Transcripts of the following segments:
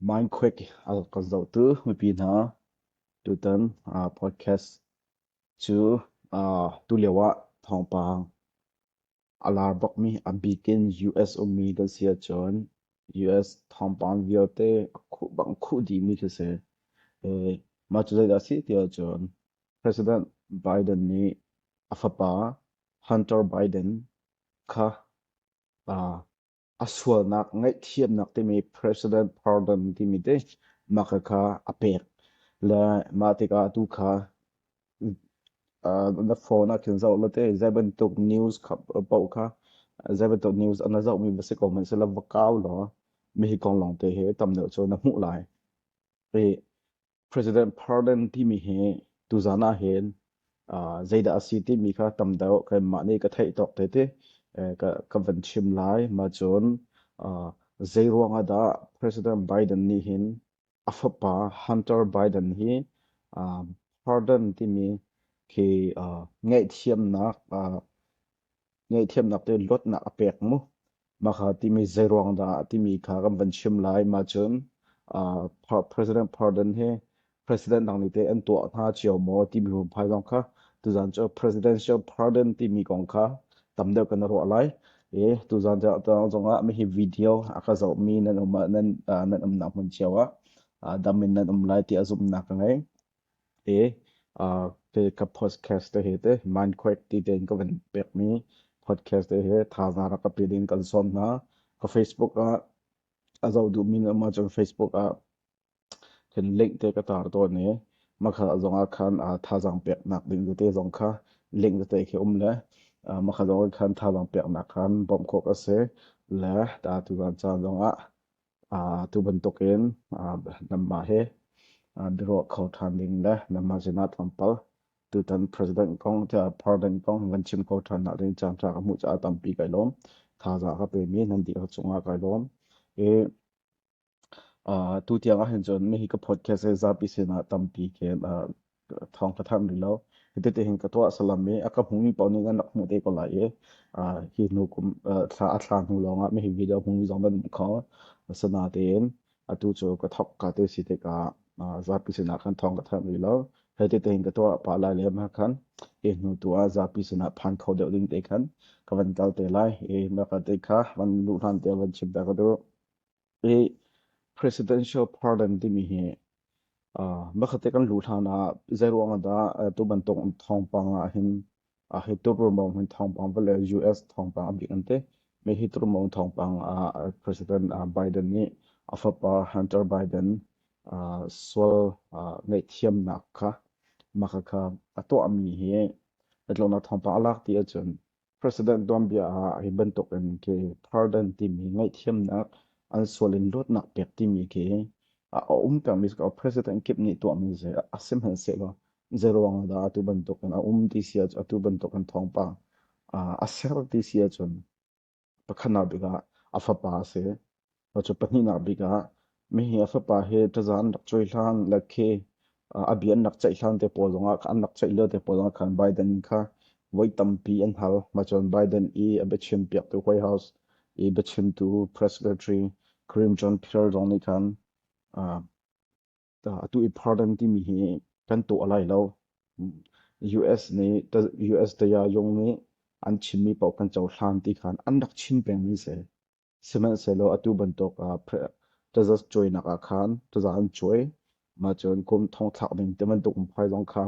Minquake a kan zohtu mipi hna, tutan podcast cu tulio ah thawngpang a lar bakmi a bikin US ummi kan si ahcun US thawngpang vialte a khuh bang khuh dihmi khi a si. Mah cu zeidah a si ti ahcun President Biden nih a fapa Hunter Biden kha a sualnak ngaihthiamnak timi president pardon timi te mah kha a pek. Le mah tikah atu kha na phone ah khin zoh la te zei bantuk news paoh kha zei bantuk news an na zohmi va si ko hmanh sila va kau law mihi kong lawngte hi tam deuh cu na hmuh lai. President Pardon timi hi tuzan ah hin uh, zeidah a si timi kha tam deuh kanmah nih ka theih tawk te te eh, ka, ka van chim lai ma cun uh, zei ruang ah dah President Biden nih hin a fapa Hunter Biden hi uh, pardon timi khi uh, ngaihthiamnak uh, Ngaihthiamnak tein luatnak a pek mu. Maka timi zeiruang dah timi kha kan van chim lai. Mah cun President Pardon hi president dang nih teh an tuah hna cio maw timi hmunphai zong kha tuzan cu presidential pardon timi kong kha tam deuh kan ruah lai. I tuzan zongah mi hi video a ka zohmi nan um ah nan umnak hmun cio ah dam in nan um lai ti a zumhnak ka ngei. te uh, ke ka podcast te hi te Minecraft ti tein ka van pekmi podcast te hi thazaang rak ka pe ding kan sawm hna ka Facebook ah a zoh duhmi na ma cun Facebook ah kan link te ka tar tawn i makha zong ah khan uh, thazaang pek nak ding te zong kha link te khi um le uh, makha zong khan thazaang pek nak khan bawm khok a si le ta tu ran caan zong ah tu bantukin namah hi biaruah kho ṭhan ding le namah sin ah tlawmpal tutan president kong tiah parliament kong kan chim kho ṭhan nak ding caan ṭha ka hmuh caah tampi kai lawm thazaang ka pe mi nan dih ka cungah kai lawm i tu tiang ahhin cun hihi ka podcast he zapi sinah tampi ke thawng ka thanh rih lo. Hititi hin ka tuah salam i a ka hmumi paoh nih kan rak hmuh te ko lai i hi hnu kum thla a thla hnu lawngah mi hi video hmumi zong nan hmu kho. Asinain atu cu ka thawk ka te si tikah zapi sinah kan thawng ka thanh rih lo. Hititi hin ka tuah pah lai le mah khan hi hnu tu ah zapi sinah phan kho deuh ding te khan ka van kal te lai i mah ka te kha van luhlan te van chim ta ka duh. Hi presidential pardon timi hi bakhat kan luh hlan ah zeiruang ah dah tu bantuk thawngpang ah hin hi tu ruamau hin thawngpang vale US thawngpang a bik an ti. Mi hi tu ruamau thawngpang ah President Biden nih a fapa Hunter Biden sual ngaihthiamnak kha maka kha a tuahmi hi itlonak thawngpang a lak ti ahcun President tuanbia ah hi bantuk in ke pardon timi ngaihthiamnak an sual in luatnak pek timi khi a um pengmi cu president kip nih tuahmi zei a si hmanhsehlaw zeiruang ahdah atu bantuk in a um ti si ahcun atu bantuk in thawngpang a ser ti si ahcun pakhatnak bik ah a fapa a si Cu pahnihnak bik ah mi hi a fapa he ṭaza an rak cuai hlan le khi a bia an rak ceih hlan te pawl zongah an rak ceih lio te pawl zongah khan Biden kha voi tampi an hal. Macun Biden i a biachim piaktu White House i biachimtu press secretary Clinton Pearl zong nih khan atu i pardon timi hi kan tuah lai lo US nih US daya yong nih an chimmi paoh kan cohlan ti khan an rak chin pengmi si sihmanhsehlaw atu bantuk ah taza cuainak ah khan taza an cuai mah cun kum thong thlak ding ti bantuk phai zong kha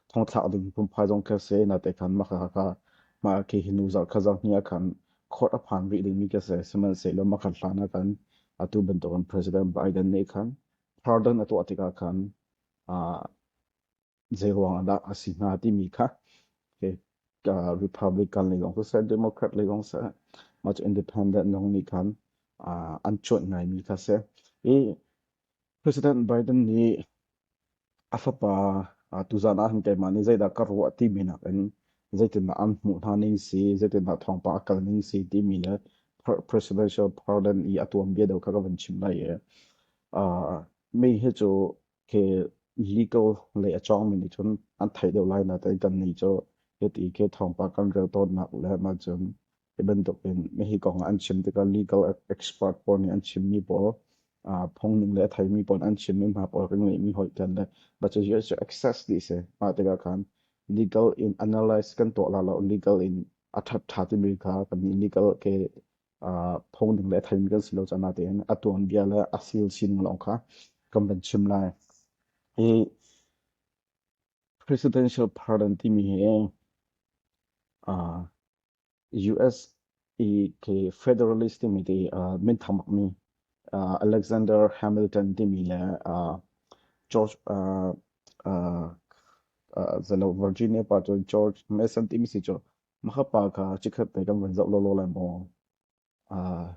thongthlak ding pumphai zong kha se na te khan mah kha kha mah ke hi nu zarh kha zarh ni ah khan khawt a phan rih ding mi ka se sihmanhsehlaw mah khan hlan ah khan atu bantuk an president Biden nih khan pardon a tuah tikah khan zeiruang ahdah a si hnga timi kha Republican le kong seh Democrat le kong seh much independent zong nih khan an chuanh ngai mi kha seh i President Biden nih A fapa tuzaan ah hin keimah nih zeidah ka ruah timi nakin zeitindah an hmuh hna ning si, zeitindah thawngpang a kal ning si timi le presidential parliament i a tuanbia deuh kha ka van chim lai i mi hi cu khi legal lei a cawngmi nih cun an theih deuh lai na, tai kannih cu hiti khi thawngpang kan rel tawnnak le maa cun Hi bantuk in hi kong an chim tikah legal expert pawl nih an chimmi pawl phungning le a theimi pawl an chimmi hna pawl kan ngeihmi hoih tian le baca hi cu access dih si mah tikah khan legal in analyze kan tuah la lo legal in a that tha timi kha kan legal ke phungning le theimi kan si lo cana tein a tuan bia le a sil sin long kha kan van chim lai hi presidential pardon timi hi uh, US i ke Federalist timi ti uh, minthang mi uh, Alexander Hamilton timi le uh, George uh, uh, uh, zalo Virginia pa chu George Mason timi si chu maka pa ka chikhat te kan van zau lo lo lai mo uh,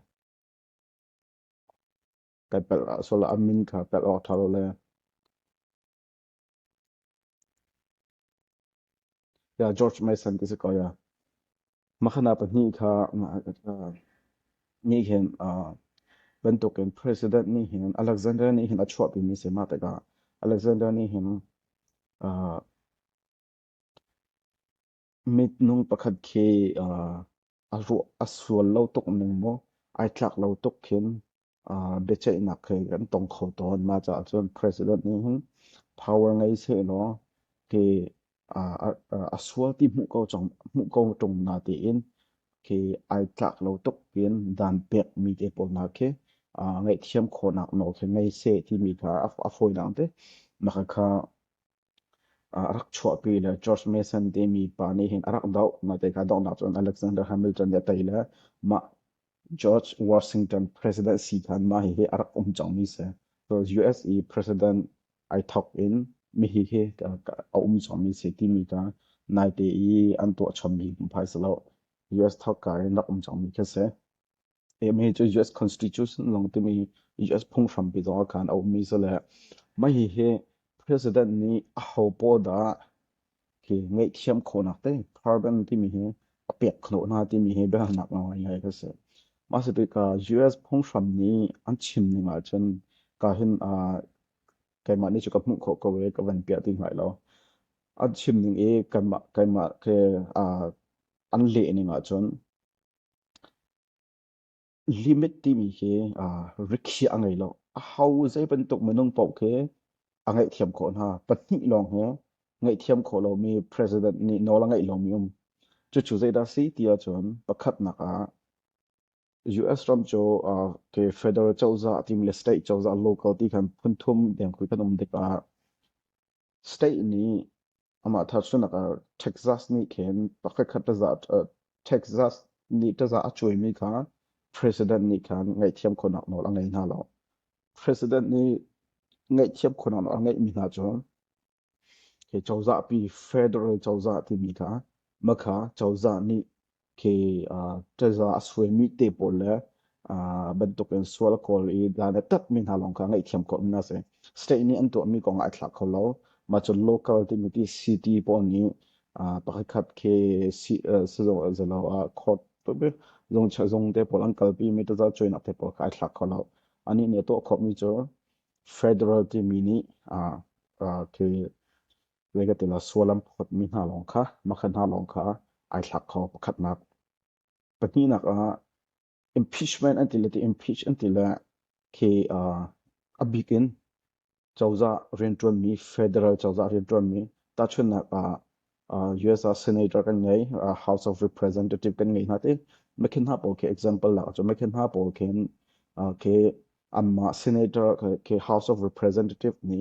kai pel so la amin ka pel o thalo le George Mason ti si ko ya. Makhana pahnih kha nih hin bantuk in president nih hin Alexander nih hin a chuahpi mi si ma tikah Alexander nih hin Mitnung pakhat khi a ruah a sual lo tuk ning maw ai tlak lo tuk khin biaceihnak khi kan tong kho tawn. Mah caah cun President nih hin power ngei sehlaw khi a sual ti hmuh ko cang hmuh ko ṭung na tiin khi ai tlak lo tuk in dan pekmi te pawl hna khi ngaihthiam khawhnak nawl khi ngei seh timi kha a fawinak te maka kha a rak chuahpi le George Mason timi pa nih hin a rak doh. Natein kha donghnak cun Alexander Hamilton nih a tei le mah George Washington president si khan mah hihi a rak um cangmi si. So US i president ai thawk in mi hihi a um cangmi si timi kha naite i an tuah chommi hmuhphai si lo. US thawkka in rak um cangmi khi a si. Mah hi cu US constitution lawng timi US phunghrampi zong ah khan a ummi si le mah hihi president nih aho pawl dah hi ngaihthiam khawhnak teh carbon timi hi a pek khawh hna timi hi biahalnak ngawng ngai ka si. Mah si tikah US phunghram nih an chim ning ahcun ka hin keimah nih cu ka hmuh khawh ko i ka van piah ti hngai lo. An chim ning i keimah keimah ke an leh ning ahcun Limit timi khi rikhiah a ngei lo. Aho zeibantuk minung paoh khi a ngaihthiam khawh hna. Pahnih lawng hi ngaihthiam khawh lomi president nih nawl a ngeih lomi um. Cucu zeidah a si ti ahcun pakhatnak ah US ram cu federal cozah timi le state cozah local ti kan phunthum deng khi kan um tikah State nih amah tahchunhnak ah Texas nih khin pakhatkhat Texas nih taza a cuaimi kha president nih khan ngaihthiam khawhnak nawl a ngei hna lo. President nih ngaihthiam khawhnak nawl a ngeihmi hna cu cozahpi federal cozah timi kha makha cozah nih khi uh, ṭaza a suaimi te pawl le uh, bantukin sual kawl i dan a tatmi hna lawng kha ngaihthiam khawhmi a si. State nih an tuahmi kong ah ai thlak kho lo. Mah cu local timi ti city pawl nih uh, pakhatkhat khi si uh, sizung zalo uh, court zung zung te pawl an kalpi mi taza cuinak te pawl kha ai thlak kho lo. Anih nih a tuah khawhmi cu federal timi nih uh, uh, khi Nifatin ah sual an phawtmi hna lawng kha makha hna lawng kha ai thlak kho. Pakhatnak. Pahnihnak ah impeachment an ti le ti impeach an ti le khi uh, a bikin cozah riantuanmi federal cozah riantuanmi tahchunnak ah uh, US ah senator kan ngei uh, House of Representative kan ngei hna te mekhin hna pawl khi example la chu mekhin hna pawl khin uh, khi amma senator khi House of Representative ni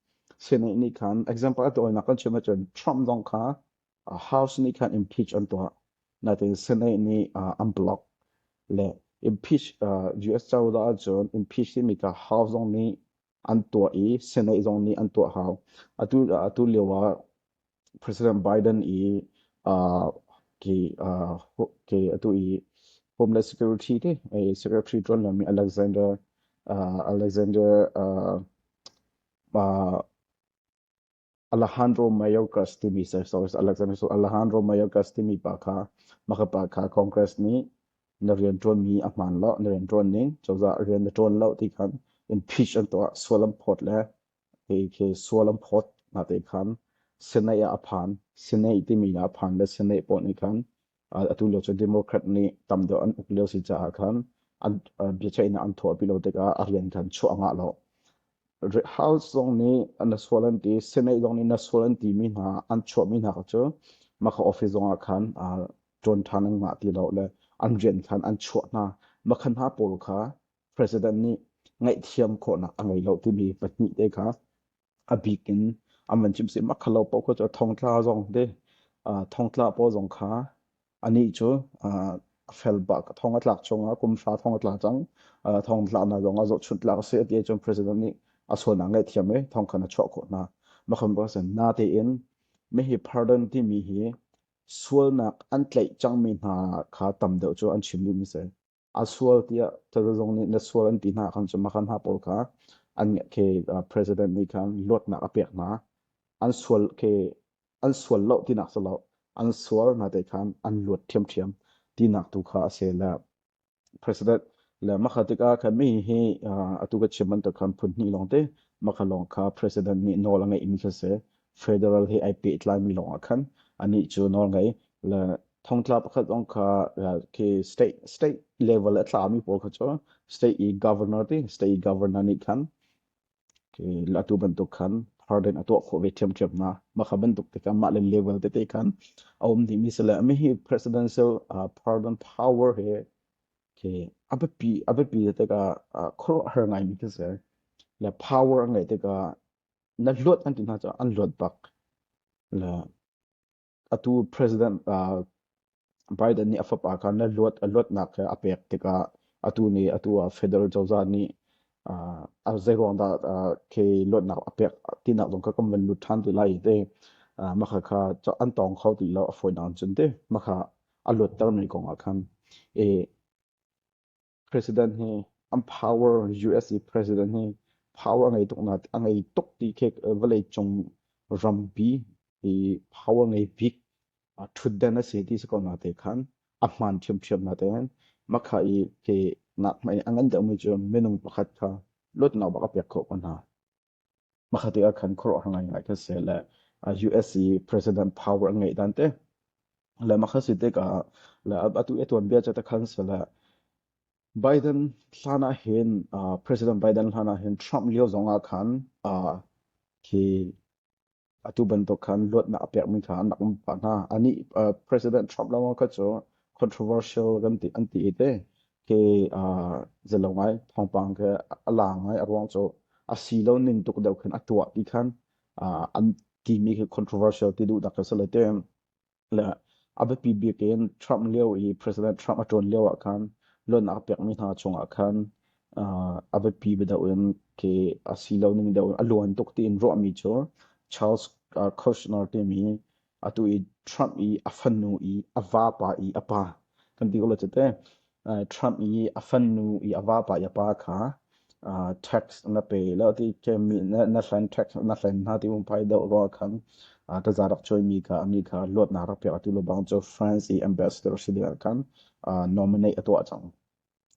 Senaih nih khan example a tawinak kan chim ahcun Trump zong kha House nih khan impeach an tuah. Nain Senate nih an block. Le impeach US cozah ahcun impeach timi kha House zong nih an tuah i Senate zong nih an tuah hau. Atu atu lio ah President Biden i ke a tuh i Homeland Security ke Secretary ṭuan lomi Alejandro Mayorkas timi Alejandro Mayorkas timi pa kha mah pa kha Congress nih na rianṭuanmi a hmaan lo na rianṭuan ning cozah rian na ṭuan lo ti khan impeach an tuah sual an phawt le Kei khi sual an phawt hna te khan Senate ah a phan. Senate timi ah a phan le Senate pawl nih khan atu lio cu Democrat nih tam deuh an uk lio si caah khan an biaceihnak an thuahpi lo tikah a rian khan chuah ngah lo. House zong nih na sual an ti, Senate zong nih na sual an timi hna an chuahmi hna cu maka office zong ah khan ṭuan ṭhan an ngah ti lo le an rian khan an chuah hna. Maka hna pawl kha president nih ngaihthiam khawhnak a ngei lo timi pahnih te kha a bik in an van chim si makhalo paoh kha cu thongtla zong te thongtla paw zong kha ani cu a fel bak thong a tlak chung ah kum hra thong a tla cang thong tla na zong a zoh chunh tlak si ti cun president nih a sualnak ngaih thiam e thong khan a chuah khawh hna makhan ba sen na te in me hi pardon timi hi sualnak an tlaih cangmi hna kha tam deuh cu an chim mi se a sual tiah cozah zong nih na sual an ti hna khan cu makan hna pawl kha an ke president nih khan luatnak a pek hna an sual ke an sual lo tinak sa lo an sual hna te khan an luat thiamthiam tinak tu kha a se la president le makhatik a khan mi hi atu ka chim man to khan phun ni long te makha long kha president ni nol ngai in kha se federal hi ai pe tlai mi long a khan ani chu nol ngai le thongtla pakhat ong kha khi state state level a tlami pawl kha cu state i governor ti state i governor nih khan khi atu bantuk khan harden a tuah khawh ve ṭhiamṭhiam na makha bantuk te khan mah le level tete khan a um dimi sele mi hi presidential uh, pardon power he ke abapi abapi te ka khoro har ngai mi ke se la power ngai te ka na luat an ti na cha an luat bak la atu President Biden nih a fapa kha na luat a luatnak kha a pek tikah atu nih atu ah federal cozah nih a zeiruang dah khi luatnak a pek tinak zong kha kan van lut ṭhan ti lai i tei makha kha an tawng kho ti lo a fawinak in cun tei makha a luattermi kong ah khan i president hi an power US i president hi power a ngei tuk na a ngei tuk ti khi vawlei cung rampi i power ngei bik thutden a si ti si ko na te khan a hman ṭhiamṭhiam na te makha i ke nak mei a ngan deuhmi cu minung pakhat kha luatnak bak a pek khawh ko hna Hmakhat te ah khan khuaruahhar ngaingai kha si le US i president power an ngeih dan te le mah kha si tikah le atu i tuanbia ca te khan si le Biden hlan ah hin uh, President Biden hlan ah hin Trump lio zong ah khan uh, hi Atu bantuk khan luatnak a pekmi kha an rak um pah hna. Anih President Trump lawng kha cu controversial kan ti an ti i te ke zelo ngai thawngpang ke a lang ngai a ruang cu a si lo ning tuk deuh khin a tuah ti khan an timi khi controversial ti duh dak ka si le te le a biapi bik in Trump lio i President Trump a ṭuan lio ah khan loan a pekmi hna chungah khan a biapi deuh in ke a si lo ning deuh in a luan tuk tiin ruahmi cu Charles Kushner timi atu i Trump i a fanu i a vapa i a pa kan ti ko la cite Trump i a fanu i a vapa i a pa kha tax na pe lo ti ke mi na hlen tax na hlen hna ti um pai do rawl khan taza rak choi mi kha ani kha luat na rak pek tu lo bang cu France i ambassador si ding khan nominate a tuah cang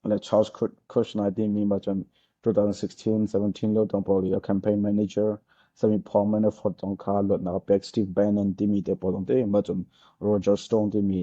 le Charles Kushner ti mi ma cun 2016-17 lo tong pawl i a campaign manager sami Paul Manafort tong kha luat na pek Steve Bannon ti mi te pawl tong te ma cun Roger Stone ti mi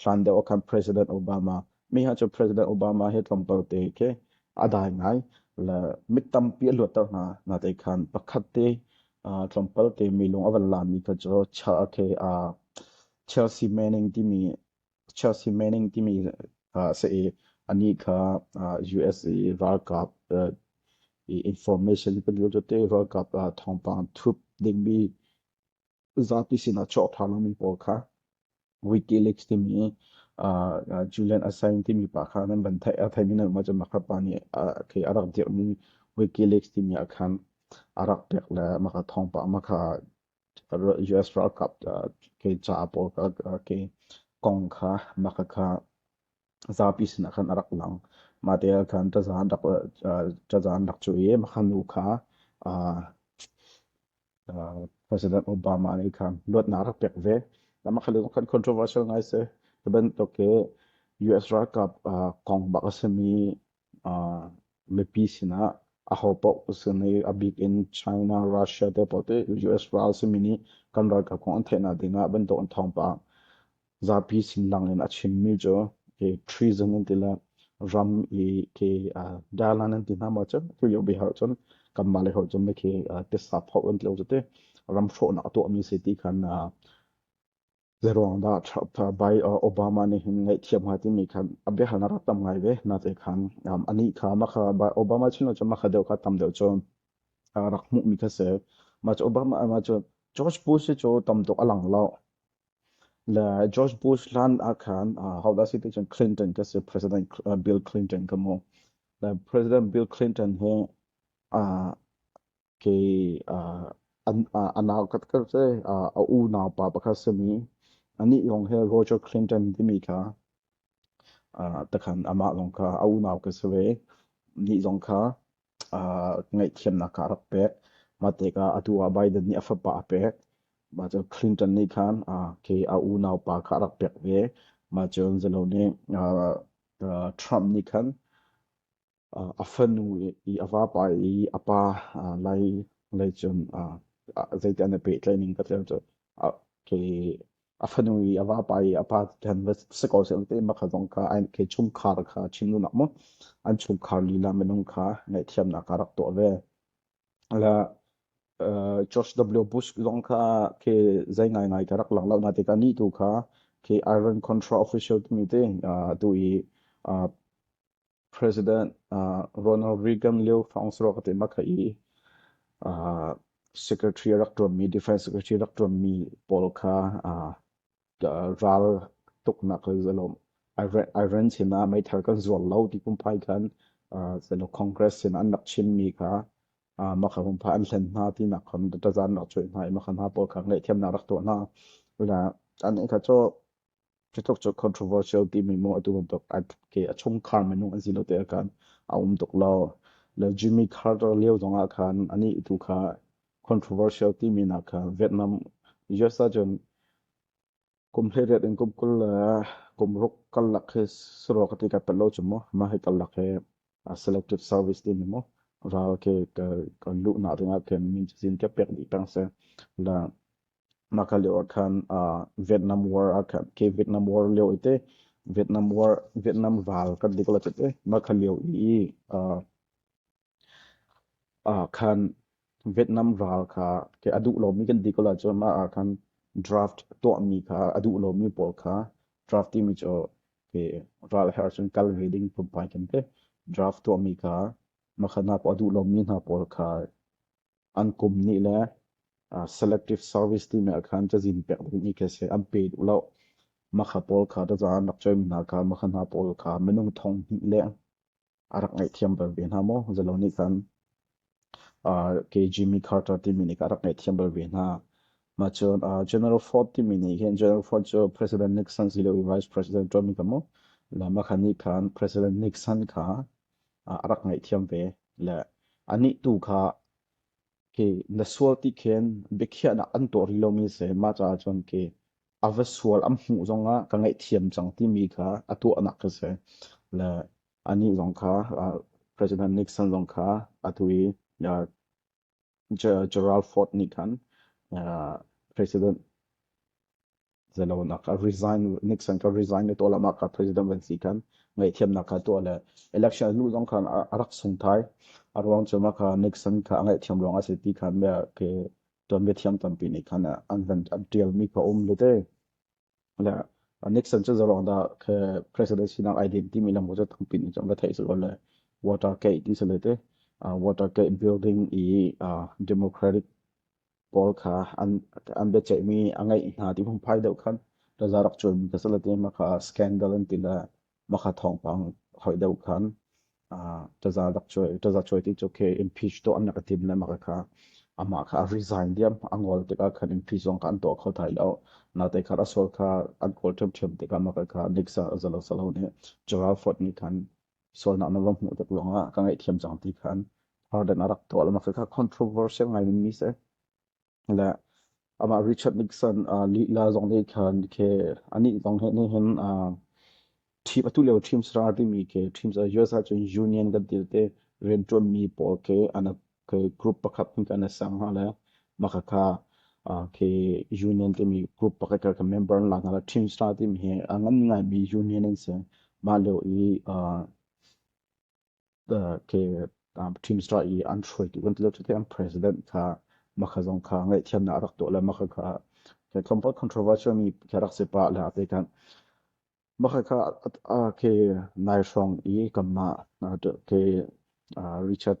hlan deuh ah khan President Obama mi ha cu President Obama he tlawmpal te khi a dai ngai le mit tampi a luatter hna na te khan pakhat te tlawmpal te mi lung a van la mi kha cu cha the a Chelsea Manning timi Chelsea Manning timi se i ani kha USA ralkap information pun cu te ralkap thawngpang thup ding mi zapi sinah cawk ṭhanlomi pawl kha Wikileaks timi Julian Assange timi pa kha nan van theih a theimi nan mah cu makha pa nih kei a rak dirhmi Wikileaks timi ah khan a rak pek le makha thawngpang makha US ralkap kei ca pawl kei kong kha makha kha zapi sinah khan a rak lang mah te ah khan tazaan rak tazaan rak cu i makha nu kha President Obama nih khan luatnak rak pek ve. Nama khalu kan controversial ngai se. Bantuk ke US ralkap kong bak a sami mipi sinah a ho paoh sini a bik in China, Russia te paoh te US ral simi nih kan ralkap kong an theihna dingah bantuk an thawng pah. Zapi sinlang in a chimmi cu ke treason an ti le ram i ke uh, dalan an ti hna ma cun thil yo bihar cun kan mah le hor cun me ke uh, tesa thok an tilo te ram hrawhnak a tuah mi se ti khan uh, zeruang da bai obama ni hin ngai thiam ha ti mi khan a be hal na rat tam ngai ve na te khan ani kha ma kha obama chin lo ma kha deu kha tam deu cho rak mu mi kha se ma obama ma cho George Bush cho tam tok alang lao Le George Bush hlan ah khan uh, hodah si ti cun Clinton ka si President uh, Bill Clinton ka mu. Le President Bill Clinton hu uh, ke uh, an uh, anau kat kar se uh, a u nau pa pakhat semi ani yong he Roger Clinton timi kha uh, takhan ama long ka a u nau ka sewe ni zong kha ngaihthiamnak kha a rak pek. Mah tikah atu ah Biden nih a fapa a pek. Mah cu Clinton nih khan khi a unaupa kha a rak pek ve. Mah cun zalo nih Trump nih khan a fanu i a vapa i a pa lai lei cun zeitiah an i pehtlaih ning ka tel cu khi a fanu i a vapa i a pa han va si ko seh te ma kha zong ka ai ke chungkhar kha chimlunak mu an chungkhar lila minung kha ngaihthiamnak a rak tuah ve la George W. Bush zong kha ke zai ngai ngai ka rak lang lo na te ka ni tu kha ke Iron Control Official mi te tu i President uh, Ronald Reagan lio thongs ro te ma khai uh, secretary rak tuam mi defense secretary rak tuam mi paul kha uh, ral tuk nak zalom iran sina mai thar kan zual lo ti kum pai khan seno congress sina an nak chin mi kha ma kha hum pha an hlen na ti nak khon ta zan nak choi na ma khan ha paul kha ngai thiam na rak to na la an kha cho Cutuk cu controversial timi maw atu bantuk ke a chungkhar minung an si lo te ah khan a um tuk lo. Le Jimmy Carter lio zong ah khan anih tu kha controversial timi nak kha Vietnam US ahcun kum hleiriat in kum kul le kum ruk kal lak hi saruak a ti ka pet lo cu maw mah hi kal lak hi selective service timi maw ral ke ka luh na ringah khin min cazin ka pek ni peng se la mah ka lio ah khan Vietnam War ah khan ke Vietnam War lio i te Vietnam War Vietnam val kan dik la te mah ka lio i khan Vietnam ral kha ke a duh lomi kan dik la cu mah ah khan draft tuahmi kha a duh lomi pawl kha draft timi cu ke ral her cun kal ve ding pumpai kan te draft tuahmi kha makhana pa duh lomi hna pawl kha an kum ni le uh, selective service ti me khan cazin pek ding i ke se an pe du lo makha pawl kha da zan rak choim hna ka makha hna pawl kha minung thong ni le arak ngai thiam bar ve hna mo zalo ni kan uh, ke Jimmy Carter ti mi ni ka rak ngai thiam bar ve hna ma chun uh, General Ford ti mi ni hen General Ford chu President Nixon si lo vice president to mi kamo la makha ni khan President Nixon kha ah a rak ngaihthiam ve. Le anih tu kha ke na sual ti khin biakhiahnak an tuah rih lomi a si. Mah caah cun ke a va sual an hmuh zongah ka ngaihthiam cang timi kha a tuahnak a si. Le anih zong kha ah President Nixon zong kha atu i ah Gerald Ford nih khan president zelonak a resign Nixon ka resign le tuah lamah ka president van si khan ngaihthiamnak kha tuah le election hnu zong khan a rak sung thai a ruang cu ma kha Nixon kha a ngaihthiam ruang a si ti khan bia ke tuanbia thiam tampi nih khan an van an tialmi kha um le te le Nixon cu zalong da ke president sinak idea timi lam cu thangpin in chang thei su le Watergate in se lete Watergate building i Democratic pawl kha an an be chei mi a ngai hna ti phung pai deuh khan da zarak chun ka se lete ma kha scandal an ti le maka thawngpang hoi deuh khan taza dak chuai taza chuai ti chu ke impeach to an ka tim le maka kha ama kha resign diam angol te ka khan impeach zong kha an to kho thai lo na te kha asol kha an kol them them te ka maka kha nixa zalo salo ne Gerald Ford ni khan sol na na rom mu tek longa ka ngai thiam jang ti khan har den arak to la maka controversial ngai mi se le amah Richard Nixon uh, lila zong ne khan ke ani zong he ne hin uh, team atu leo team srar timi ke teams a US cun union kan til te rian tuan mi pawl ke ana ke group pakhat hin kan sang ha le maka ka ke union timi group pakhat ka member la ngala team srar timi he angan ngai mi union in se ma leo i ke team strike i an hruaitu kan ti lo cuti an president kha makha zong kha ngaihthiamnak a rak tuah le makha kha ke compound controversial mi ke rak si pa le ate kan makha kha ke nai hrawng i kamma ke richard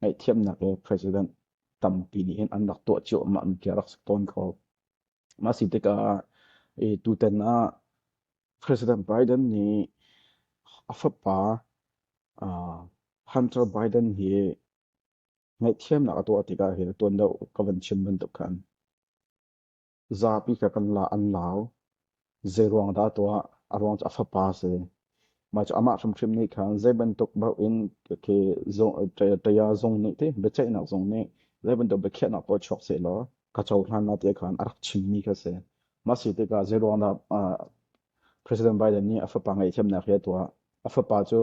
ngaihthiamnak le president tampi nih hin an rak tuah ciammam ti rak si tawn kho. Mah si tikah tutan ah President Biden nih a fapa Hunter Biden hi ngaihthiamnak a tuah tikah hi tuan do ka van chim bantuk khan Zapi ka kan la an lau. Zeiruang dah tuah? A ruang cu a fapa si. Mah cu amah hrimhrim nih khan zei bantuk bauh in taya zung nih ti biaceihnak zung nih zei bantuk biakhiahnak pawl chuak seh law ka cohlan lai tiah khan a rak chimmi kha si. Mah si tikah zeiruang dah President Biden nih a fapa ngaihthiamnak hi a tuah? A fapa cu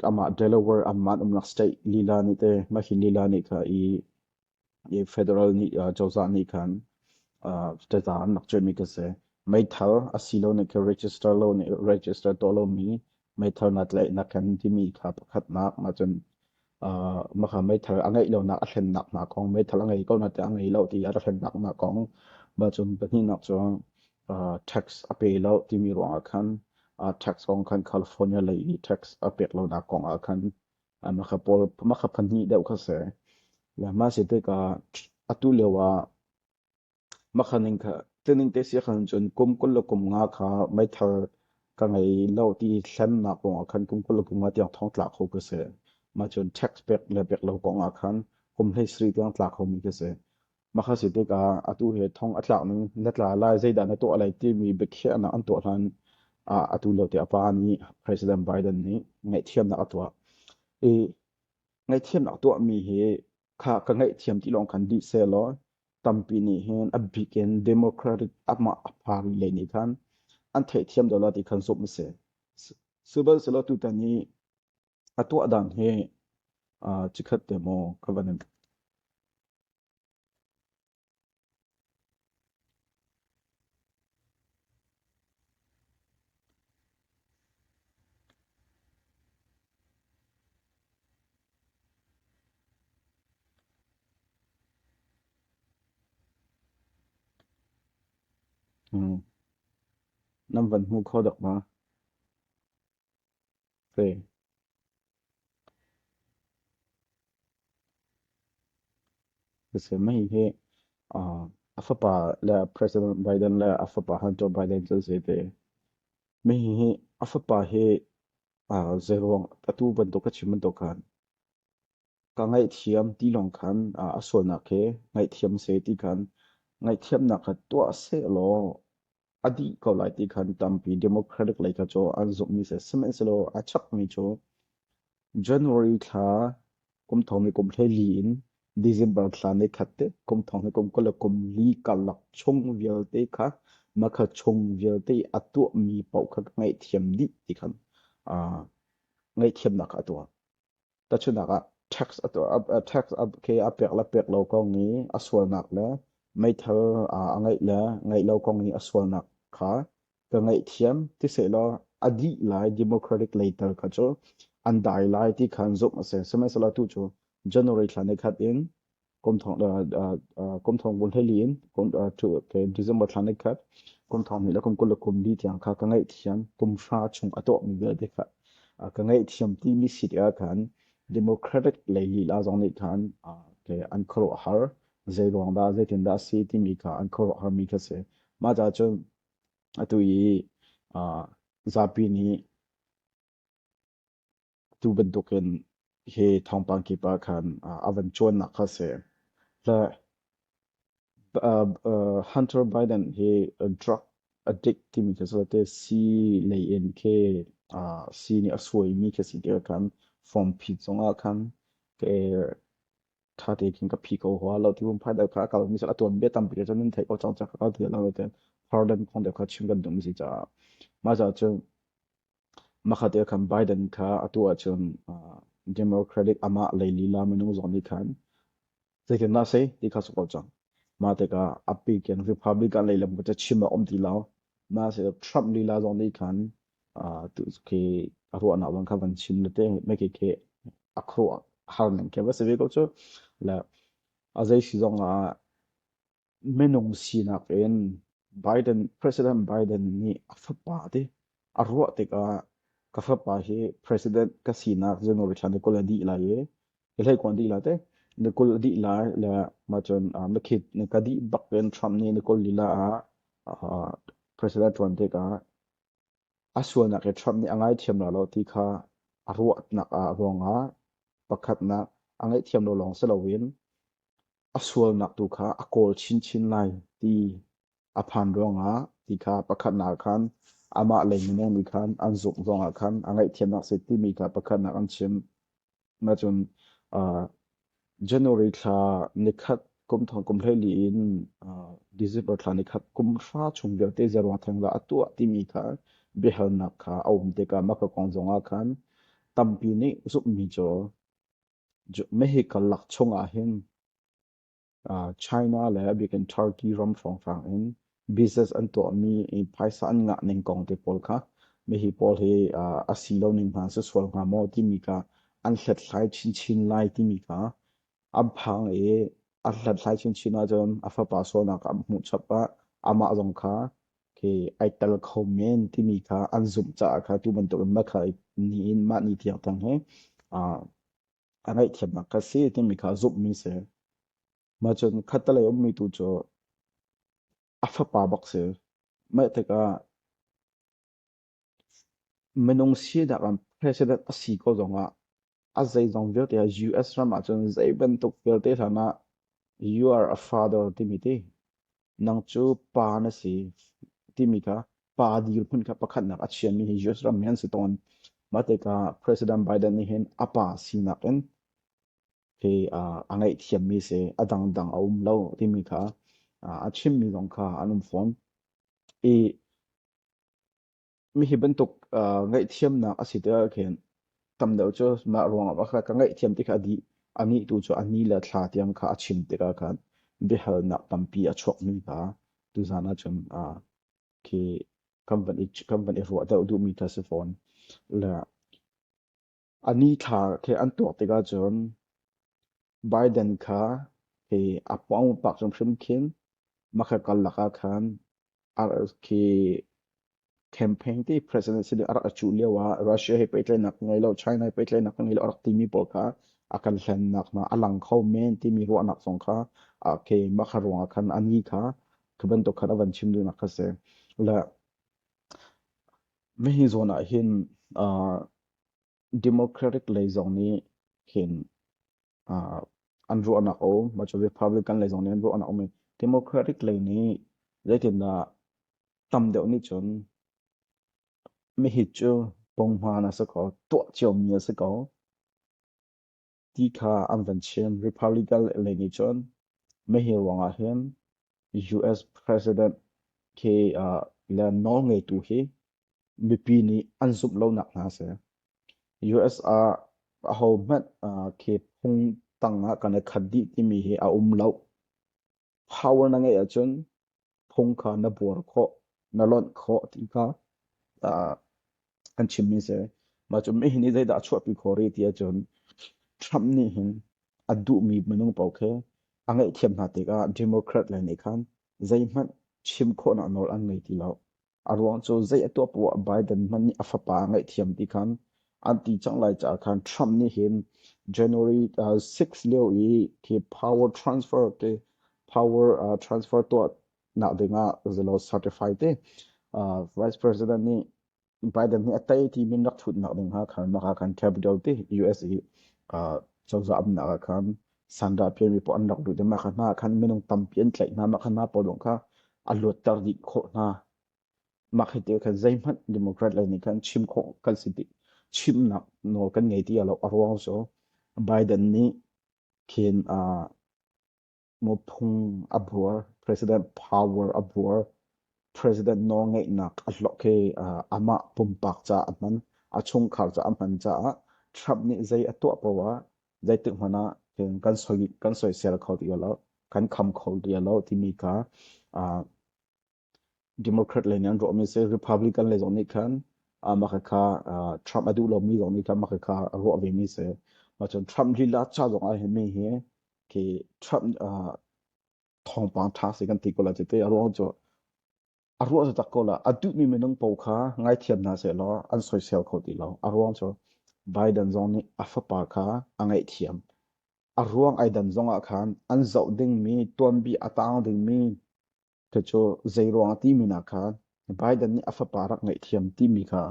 amah Delaware amah umnak state lila nih te mah hi lila nih kha i i federal nih uh, cozah nih khan uh, teta an rak cuaimi ka se meithal asilo nih kha register lo nih register to lo mi meithal na tlai na kan timi kha pakhat nak ma cun uh, maka meithal a ngei lo nak a thlen nak na kong meithal a ngei ko na te a ngei lo ti a thlen nak na kong ma cun pahnih nak cu tax a pe lo timi ruangah khan tax kong khan California lei i tax a pek lonak kongah khan makha pahnih deuh kha si. Mah si tikah atu lio ah makha ning kha tining te si khan cun kum kul le kum nga kha meithal ka ngei lo ti thlennak kongah khan kum kul le kum nga tiang thong tlak kho ka si. Mah cun tax pek le pek lo kongah khan kum hlei sri tiang tlak khomi ka si. Makha si tikah atu he thong a tlakning na tla lai zeidah na tuah lai timi biakhiahnak an tuah hlan ah atu lio te a pa nih President Biden nih ngaihthiamnak a tuah. I ngaihthiamnak tuahmi hi kha ka ngaihthiam ti lawng kan dih sehlaw tampi nih hin a bik in democratic amah a phang lei nih khan an theihthiam dolo ti khan zumh a si. Sibanselo tutan i A tuahdan hi cikhat te maw ka van in. Nan van hmu kho dak ma? Mei hi a fapa le President Biden le a fapa Hunter Biden cu a si te. Mei hi a fapa hi zeiruang atu bantuk a chim bantuk khan ka ngaihthiam ti lawng khan a sualnak hi ngaihthiam a si ti khan ngaihthiamnak kha tuah sehlaw a dih ko lai ti khan tampi Democratic lei kha cu an zumhmi si sihmanhsehlaw a chakmi cu January thla kum thong i kum hlei in December thla ni khat te kum thong i kum kul le kum li karlak chung vialte kha makha chung vialte a tuahmi paoh kha ngaihthiam dih ti khan ngaihthiamnak a tuah Tahchunak ah tax ke a pek le pek lo kong i a sualnak le meithal a ngeih le ngeih lo kong i a sualnak kha ka ngaihthiam ti sehlaw a dih lai democratic lei tal kha cu an dai lai ti khan zumh a si. Sihmanhsehlaw tu cu January thla ni khat in kumthong kumthong bun hlei lin kum tu ke december thlan ek khat kumthong ni la kum kul kum bi tiang kha ka ngai thiam kum sha chung ato mi ve de kha ka ngai thiam ti mi sit ya khan democratic lei la zong ni khan ke an khro har zai ruang da zai tin da si ti mi kha an khro har mi kha se ma ja chu atu yi zapi ni Atu bantukin hi thawngpang kip ah khan a van ṭuannak kha a si. Hunter Biden hi drug addict timi khi cu sii lei in khi sii nih a suaimi khi a si ti ah khan form phi zong ah khan ṭha tein ka phi ko hua lo ti phun phai deuh kha a kal mi a tuan bia tampi cun nan theih ko cang cang kha ka ti lo tiin pardon kong deuh kha chim kan tum si caah mah caah cun Hmakhat ah khan Biden kha a tuah ahcun Democratic amah lei lila minung zong nih khan zeitindah a si ti kha cu ko cang. Mah tikah a pik in Republican lei lam cu chim a um ti lo. Naasih Trump lila zong nih khan khi a ruahnak zong kha van chim le te mai khi khi a khuaruah har ning khi va si ve ko cu. Le a zei si zong ah Minung sinak in Biden, President Biden nih a fapa ti a ruah tikah ka fapa hi president ka sinak general chan na kul a dih lai i i hlei kuan dih lai te na kul a dih lai le ma cun uh, na khit na ka dih bak in Trump nih na kul lila ah uh, president tuan tikah a sualnak i Trump nih a ngaithiam la lo ti kha a ruahnak ah ruangah pakhatnak a ngaihthiam lo lawng si loin a sualnak tu kha a kawl chinchin lai ti a phan ruangah ti kha pakhatnak khan amah lei minung nih khan an zuk zongah khan a ngaihthiamnak se timi kha pakhatnak an chim nachun January thla nikhat kum thong kum hlei li in December thla nikhat kum hra chung vialte zarwa theng la atuah timi kha biahalnak kha a um te ka maka kong zongah khan tampi nih zummi cho Mehika lak chungah hin China le bikin Turkey ram hrawnghrang in business an tuahmi i phaisa an ngah ning kong te pawl kha mihi pawl hi a si lo ning hna si sual hnga maw timi kha an hlethlai chinchin lai timi kha an phang i an hlethlai chinchin ahcun a fapa sualnak an hmuh chap ah amah zong kha khi ai tel kho men timi kha an zumh caah kha tu bantukin mah kha nihin mah ni tiang tang he a ngaihthiamnak ka si timi kha zumhmi si mah cun khatalei ummi tu cu a fapa bak si mah tikah Minung sinak ah president a si ko zongah a zeizong vialte ah US ram ahcun zeibantuk vialte hlan ah you are a father timi ti. Nang cu pa na si timi kha pa dirhmun kha pakhatnak a chiami hi US ram hi an si tawn. Mahtika President Biden nih hin a pa sinak in hi a ngaihthiammi si a dangdang a um lo timi kha a chimmi zong kha an um fawn. I Mi hi bantuk ngaihthiamnak a si ti ahkhin tam deuh cu mah ruangah a ka ngaihthiam ti kha a dih. A nih tu cu a ni le thla tiang kha a chim tikah khan biahalnak tampi a chuakmi hna tuzaan ahcun khi kan van i ruah deuh duhmi kha si fawn. Le A nithlar khi an tuak tikah cun Biden kha hi a pawngpak hrimhrim khin hmakhat karlak ah khan khi campaign ti president si a rak a cuh lio ah Russia he pehtlaihnak ka ngei lo China he pehtlaihnak ka ngei lo a rak timi pawl kha a kan hlennak hna a lang kho men timi ruahnak zong kha a khi makha ruang ah khan a ni kha khi bantuk khan a van chim duhnak kha si le hihi zawn ah hin Democratic lei zong nih hin uh, an ruahnak a um. Macu Republican lei zong nih an ruahnak a um. Democratic lei nih zeitindah tam deuh nih cun mi hi cu ponghman a si ko, tuah cio mi a si ko. ti kha an van chim. Republican lei nih cun mah hi ruangah hin US President ke uh, le nawlngeitu hi mipi nih an zumh lonak hna si. US ah aho hmanh uh, ke phung tang ah kan i khat dih timi hi a um lo. Power na ngeih ahcun phung kha na buar khawh, na lonh khawh ti kha an chimmi a si. Mah cu mi hi zeidah a chuahpi khawh rih ti ahcun Trump nih hin a duhmi minung paoh khi a ngaihthiam hna tikah Democrat lei nih khan zeihmanh chim khawhnak nawl an ngei ti lo. A ruang cu zei a tuah poah Biden hmanh nih a fapa a ngaihthiam ti khan an ti cang lai caah khan Trump nih hin January uh, 6 lio i khi power transfer te power uh, transfer tuah nak dingah zalo certify te uh, vice president nih Biden nih a tei ti min rak thut nak ding ha khan naka khan capital ti US i uh, cozah am nak ah khan Sandrapian mi pawl an rak lut i mah hna khan minung tampi an tlaih hna. Mah hna pawl zong kha a luatter dih khawh hna. Mah hi ti khan zeihmanh Democrat le nih khan chim khawh kan si ti chimnak nawl kan ngei ti lo. A ruang cu Biden nih khin uh, mupung a buar, president power a buar, president nawlngeihnak a hlok hi uh, amah pumpak caah a hman, a chungkhar caah a hman caah Trump nih zei a tuah poah zeitik hmanh ah cun kan soi kan soisel kho ti lo kan kham kho ti lo timi kha democrat lei nih an ruahmi si republican lei zong nih khan maka kha trump a duh lomi zong nih khan maka kha ruah vemi si cun trump lila cha zong ah hin mi hi khi trump thawngpang tha si kan ti ko la ti a ruang cu a ruah taktak ko lah. A duhmi minung paoh kha ngaithiam hna sehlaw an soisel kho ti lo. A ruang cu Biden zong nih a fapa kha a ngaihthiam. A ruang ai dan zong ah khan an zoh dingmi, tuanbi a taang dingmi khi cu zei ruang a timi nak kha Biden nih a fapa rak ngaihthiam timi kha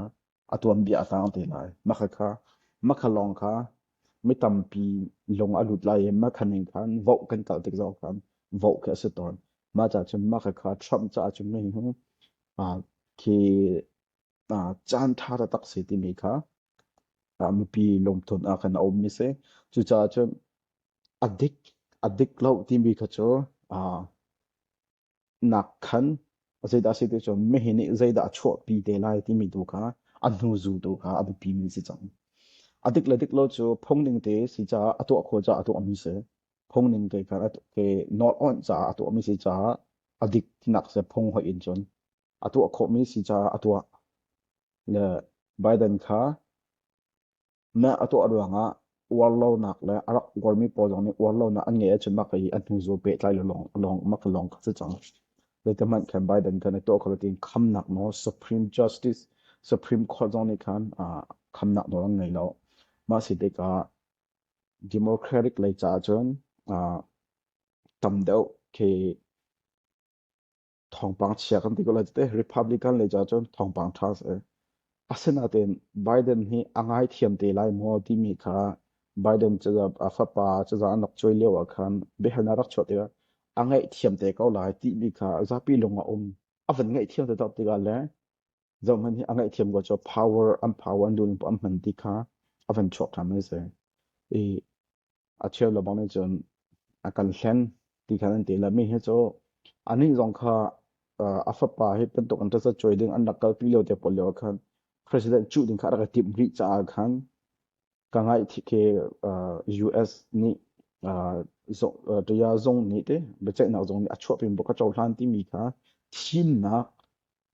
a tuanbia a sang te lai. Makha kha makha lawng kha mi tampi lung a lut lai i makha ning khan voh kan kalh tik zong khan voh khi a si tawn. Mah ca cun makha kha Trump caah cun mi hu khi caan ṭha taktak si timi kha mipi lungtun ah khan a ummi si. Cucaah cun a dik a dik lo timi kha cu nak khan zeidah si te cu mihi nih zeidah a chuahpi te lai timi tu kha a hnu zultu kha a biapi mi si cang a dik le dik lo cu phungning te si caah a tuah kho caah a tuah mi si phungning te khan ke not on caah a tuah mi si caah a dik tinak se phung hoi in cun a tuah khawh mi si caah a tuah le Biden kha Mah a tuah ruangah uarlonak le a rak uarmi pawl zong nih uarlonak an ngeih ahcun mah hi a hnuzu pehtlai le lawng, lawng, mah lawng kha si cang. Zeitihmanh khan Biden khan a tuah kho lo tiin khamnak nawl Supreme Justice, Supreme Court zong nih khan khamnak nawl an ngei lo. Mah si tikah Democratic lei caah cun tam deuh khi thawngpang chia kan ti ko lai cu teh Republican lei ca cun thawngpang ṭha a si. Asinain Biden hi a ngaithiam te lai maw timi kha Biden caza a fapa caza an rak cuai lio ah khan biahalnak rak chuah tikah a ngaihthiam te ko lai timi kha zapi lung a um. A van ngaihthiam te tak tikah le Zohhmanh hi a ngaihthiam ko cu power an power an duhning an hman ti kha a van chuak ṭhan an si. I a cheu le bang nih cun a kan hlen ti kha an ti le mi hi cu anih zong kha a fapa hi bantuk an ṭasa cuai ding an rak kalpi lio te pawl lio ah khan president cuh ding kha a rak i timh rih caah khan ka ngaih thi ke US nih ṭaya zung nih te biaceihnak zung nih a chuah pin buk a cohlan timi kha thimnak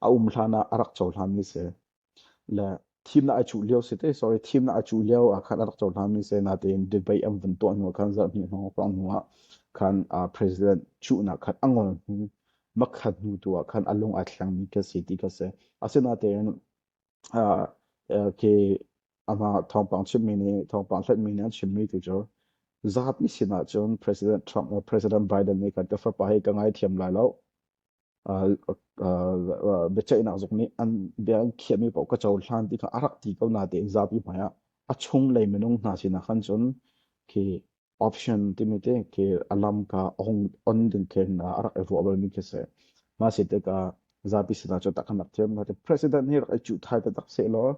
a um hlan ah a rak cohlami si le thim na a cuh lio si te sorry thim na a cuh lio ah khan a rak cohlami si natein debate an vun tuah hnu khan zarh hnih hnu pang hnu ah khan president cuhnak khan a ngol hnu makhat hnu tu ah khan a lung a thlangmi ka si ti ka si asinatein ke ama thawngpang chimmi nih thawngpang hlatmi nih an chimmi tu cu zapi sinah cun president Trump le president Biden nih kan tefa pa hi ka ngaithiam lai lo biaceihnak zong nih an bia an khiahmi paoh ka cohlan ti kha a rak ti ko natein zapi hmaiah a chung lei minung hna sinah khan cun khi option timi te khi a lam ka on ding khin a rak i ruah balmi khi se ma si tikah zapi sinah cu takhan rak thiam ka ti president hi rak i cuh thai ta tak se law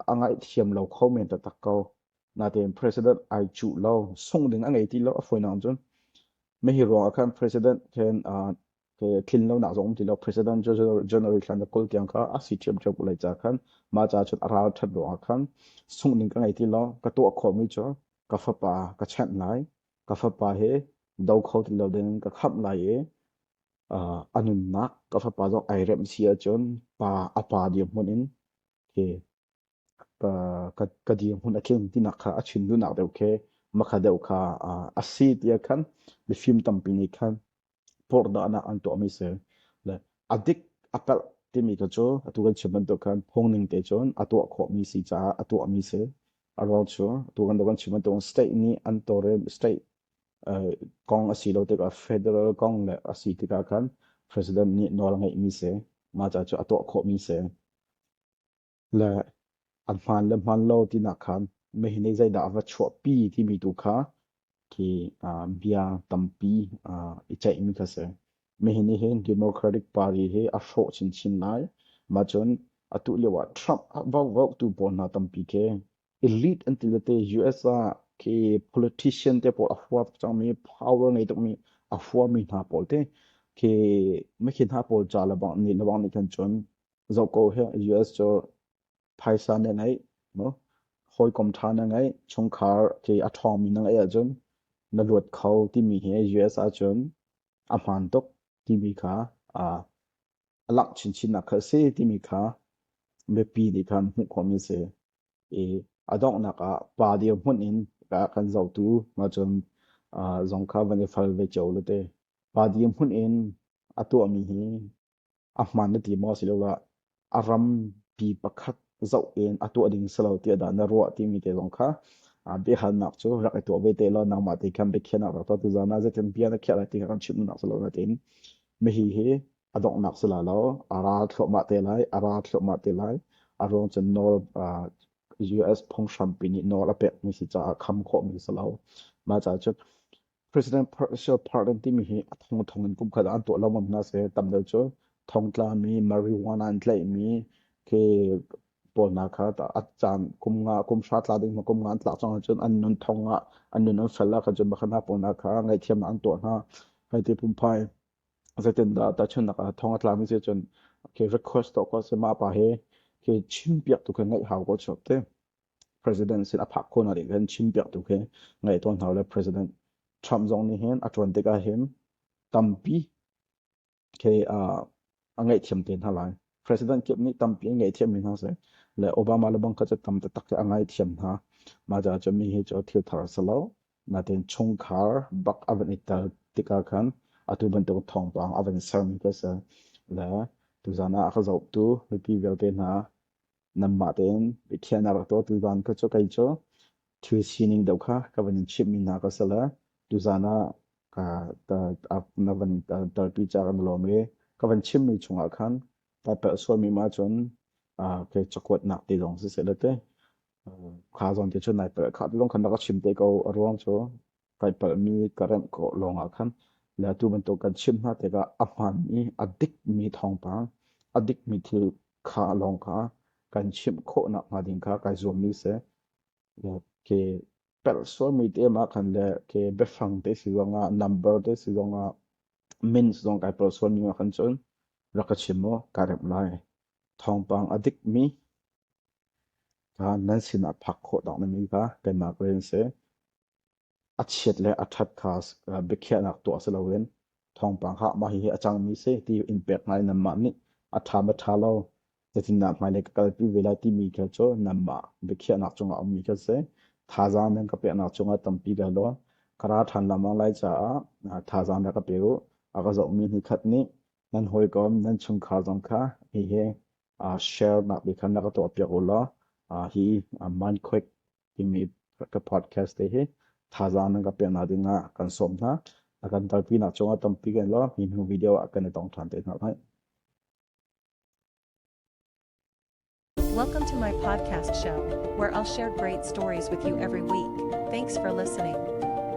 a ngaihthiam lo kho men taktak ko. Natein president ai cuh lo. Sungh ding a ngei ti lo. A fawinak in cun. Mehi ruang ah khan president khen tlin lo nak zong um ti lo. President January thlan na kul tiang kha a si thiamthiam ko lai ca khan. Ma ca chun a ral that ruang ah khan. Sungh ding ka ngei ti lo. Ka tuah khawh mi cu. Ka fapa ka chanh lai. Ka fapa he do kho ti lo ding ka khamh lai i. a nunnak ka fapa zong ai remh si ahcun pa a pa dirhmun in khi ka, ka, ka dirhmun a tling tinak kha a chim duhnak deuh khi makha deuh kha a si tiah khan mifim tampi nih khan porhdahnak an tuahmi si. Le a dik a palh timi kha cu atu kan chim bantuk khan phungning te cun a tuah khawhmi si caah a tuahmi si. A ruang cu atu kan kan chim bantuk state nih an tawrem state kong a si lo tikah federal kong le a si tikah khan president nih nawl a ngeihmi si. Mah ca cu a tuah khawhmi si. Le a hmaan le hmaan lo tinak khan meihin ei zeidah a va chuahpi timi tu kha khi bia tampi i ceihmi kha si. Meihin nih hin Democratic Party hi a hrawh chinchin lai. Mah cun atu lio ah Trump a vaukvauktu pawl hna tampi khi elite an ti te US ah ke politician te pawl a hua cangmi power ngei tukmi a huami hna pawl te ke me khi hna pawl ca le bang ni le bang ni khan chun zo ko he US cho phaisa ne ngai no hawikom tha na ngai chungkhar ke athomi na ngai ahcun na luat kho timi hi US ahcun a hman tuk timi kha a a langh chinchinnak kha a si timi kha mipi nih khan hmuh khawhmi a si. I a donghnak ah pa dirhmun in a kan zotu ma cun zong kha van i fal ve cio le te pa dirhmun in a tuahmi hi a hman na ti maw si lo la a ram pi pakhat zoh in a tuah ding si lo tiah dah na ruah timi te zong kha biahalnak cu rak i tuah ve te law nangmah te khan biakhiahnak rak tuah tu zan ah zeitin bia na khiah lai ti kha kan chimnak si lo na tin Mihi hi a donghnak si lai lo. A ral thluahmah te lai. A ral thluahmah te lai. A ruang cun nawl US phunghram pi nih nawl a pekmi si caah kham khawhmi si lo. Mah caah cun President Presidency Parliament timi hi a thong thong in kumkhat an tuah lomam hna seh. Tam deuh cu thongtlami, marijuana in tlaihmi khi Pawlnak kha a caan kum nga kum hra tla ding ma kum nga an tlak cang cun an nun thong ah an nun an fel kha cun bakhan pawlnak kha ngaihthiamnak an tuah hna hai ti pumpai zeitindah tahchunnak ah thong a tlami si cun okay request to ko se ma pa he ke chim piak tu ke ngai hau ko chop te president sin a phak ko na ri kan chim piak tu ke ngai ton hau le president Trump zong nih hin a tuan tikah hin tampi a ngaihthiam te hna lai. President kip nih tampi an ngaihthiam mi hna seh le Obama le bang kha cu tam taktak a ngaihthiam hna. Mah caah cu mi hi cu thil thar a si lo. Nain chungkhar bak a van i tel tikah khan atu bantuk thawngpang a van sermi kha a si. Le tuzan ah a ka zohtu mipi vialte hna Namma tein Pathian a rak dawtu van kha cu kei cu thil sining deuh kha ka van in chimhmi hna ka sal tuzaan ah na van tarpi ca kan lawm i ka van chimmi chungah khan ta perh sualmi ma cun ke cakuatnak te zong si se le te kha zong te cun nai perh kha lung khan rak chim te ko a ruang cu kai palhmi ka remh khawh lawngah khan le atu bantuk kan chim hna tikah a hmaanmi a dikmi thawngpang a dikmi thil kha lawng kha kan chimh khawh nak hnga ding kha kai zuammi seh ke pelh sualmi te ma khan le ke biafang te si zongah number te si zongah mins zong kai pel sualmi ma khan cun rak ka chim mo ka remh lai thawngpang a dikmi kha nan sinah phak khawh dang nami kha kanmah ka rin seh A chiat le a ṭhat kha biakhiahnak tuah si loin thawngpang hah mah hihi a cangmi si ti in pek hna i nanmah nih a ṭha maw ṭha lo zeitindah hmailei ka kalpi ve lai timi thil cu nanmah biakhiahnak cungah a ummi kha si thazaang nan ka peknak cungah tampi ka hla ka ra ṭhan lengmang lai caah thazaang na ka pe u a ka zohmi ni khat nih nan hawikom nan chungkhar zong kha hihi share nak bia khan na ka tuahpiak u law hi man quick timi ka podcast te hi thazaang nan ka pek hna dingah kan sawm hna. A kan talpinak cungah tampi kan lo mi hnu video ah kan i tong ṭhan te hna lai. Welcome to my podcast show, where I'll share great stories with you every week. Thanks for listening.